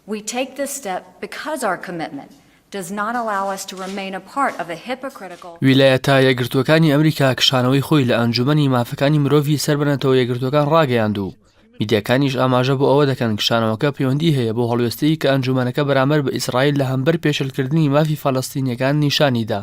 We take this step because our commitment does not allow us to remain a part of a hypocritical. ویلایەتە یەکگرتووەکانی ئەمریکا کشانەوەی خۆی لە ئەنجوومەنی مافەکانی مرۆڤی سەر بە نەتەوە یەکگرتووەکان ڕاگەیاند و میدیاکانیش ئاماژە بۆ ئەوە دەکەن کشانەوەکە پەیوەندی هەیە بۆ هەڵوێستەی کە ئەنجوومەنەکە بەرامبەر بە ئیسرائیل لە هەمبەر پێشێلکردنی مافی فەلەستینییەکان نیشانی دا.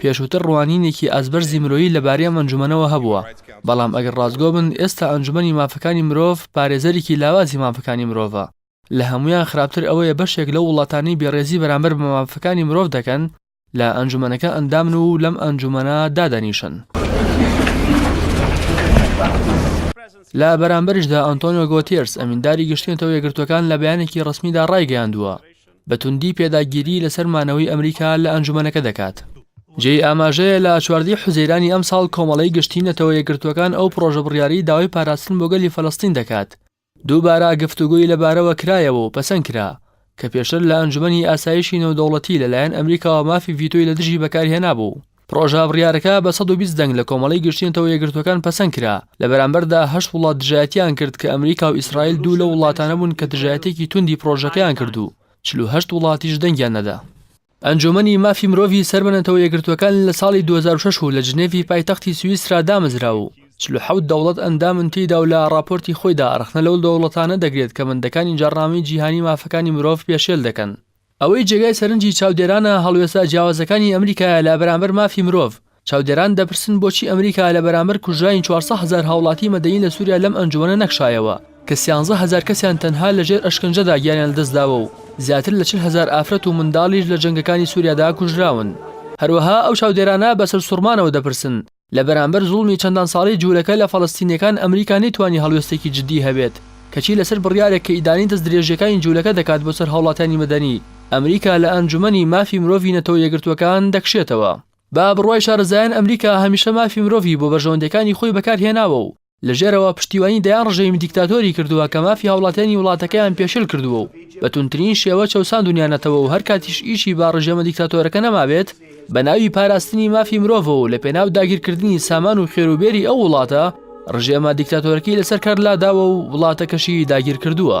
پێشووتر ڕوانینێکی ئاستبەرزی مرۆیی لەبارەی ئەم ئەنجومەنەوە هەبووە، بەڵام ئەگەر ڕاستگۆ بن ئێستا ئەنجومەنی مافەکانی مرۆڤ پارێزەرێکی لاوازی مافەکانی مرۆڤە، لە هەموویان خراپتر ئەوەیە بەشێک لەو وڵاتانەی بێڕێزی بەرامبەر بە مافەکانی مرۆڤ دەکەن لە ئەنجومەنەکە ئەندامن و لەم ئەنجومەنە دادەنیشن. لە بەرامبەریشدا ئەنتۆنیۆ گۆتیێرس ئەمینداری گشتی نەتەوە یەکگرتووەکان لە بەیانێکی ڕەسمیدا ڕایگەیاندووە، بە توندی پێداگیری لەسەر مانەوەی ئەمریکا لە ئەنجومەنەکە دەکات. جێی ئاماژەیە لە چواردە حوزەیرانی ئەمساڵ کۆمەڵەی گشتی نەتەوە یەکگرتووەکان ئەو پڕۆژە بڕیارەی داوای پاراستن بۆ گەلی فەلەستین دەکات دووبارە گفتوگۆی لەبارەوە کرایەوە و پەسەند کرا کە پێشتر لە ئەنجومەنی ئاسایشی نێودەوڵەتی لەلایەن ئەمریکاوە مافی ڤیتۆی لە دژی بەکارهێنابوو. پڕۆژە بڕیارەکە بە سەد و بیست دەنگ لە کۆمەڵەی گشتی نەتەوە یەکگرتووەکان پەسەند کرا، لە بەرامبەردا هەشت وڵات دژایەتییان کرد کە ئەمریکا و ئیسرائیل دوو لەو وڵاتانە بوون کە دژایەتییەکی توندی پڕۆژەکەیان کرد و چل و هەشت وڵاتیش دەنگیان نەدا. ئەنجوومەنی مافی مرۆڤی سەر بە نەتەوە یەکگرتووەکان لە ساڵی دوو هەزار و شەش و لە جنێڤی پایتەختی سویسرا دامەزرا و چل و حەوت دەوڵەت ئەندامن تێیدا و لە ڕاپۆرتی خۆیدا ڕەخنە لەو دەوڵەتانە دەگرێت کە بەندەکانی جاڕنامەی جیهانی مافەکانی مرۆڤ پێشێل دەکەن ئەوەی جێگای سەرنجی چاودێرانە هەڵوێستە جیاوازەکانی ئەمریکایە لە بەرامبەر مافی مرۆڤ. چاودێران دەپرسن بۆچی ئەمریکا لە بەرامبەر کوژرانی چوار سەد هەزار هاوڵاتی مەدەنی لە سوریا لەم ئەنجومەنە نەکشایەوە کە سیانزە هەزار کەسیان تەنها لە ژێر ئەشکەنجەدا گیانیان لەدەستداوە و زیاتر لە چل هەزار ئافرەت و منداڵیش لە جەنگەکانی سوریادا کوژراون. هەروەها ئەو چاودێرانە بە سەرسوڕمانەوە دەپرسن لە بەرامبەر زوڵمی چەندان ساڵەی جوولەکە لە فەڵەستینیەکان ئەمریکا نەیتوانی هەڵوێستێکی جدی هەبێت کەچی لەسەر بڕیارێک کە ئیدانەی دەست درێژیەکانی جوولەکە دەکات بۆ سەر هاوڵاتیانی مەدەنی ئەمریکا لە ئەنجومەنی مافی مرۆڤی نەتەوە یەکگرتووەکان دەکشێتەوە بە بڕوای شارەزایان ئەمریکا هەمیشە مافی مرۆڤی بۆ بەرژەوەندیەکانی خۆی بەکار هێناوە و لە ژێرەوە پشتیوانی دەیان ڕژێمی دیکتاتۆری کردووە کە مافی هاوڵاتیانی وڵاتەکەیان پێشێل کردووە و بە توندترین شێوە چەوساندونیانەتەوە و هەرکاتیش ئیشی با ڕژێمە دیکتاتۆرەکە نەمابێت بە ناوی پاراستنی مافی مرۆڤەوە و لە پێناو داگیرکردنی سامان و خێروبێری ئەو وڵاتە ڕژێمە دیکتاتۆرەکەی لەسەر کار لاداوە و وڵاتەکەشی داگیرکردووە.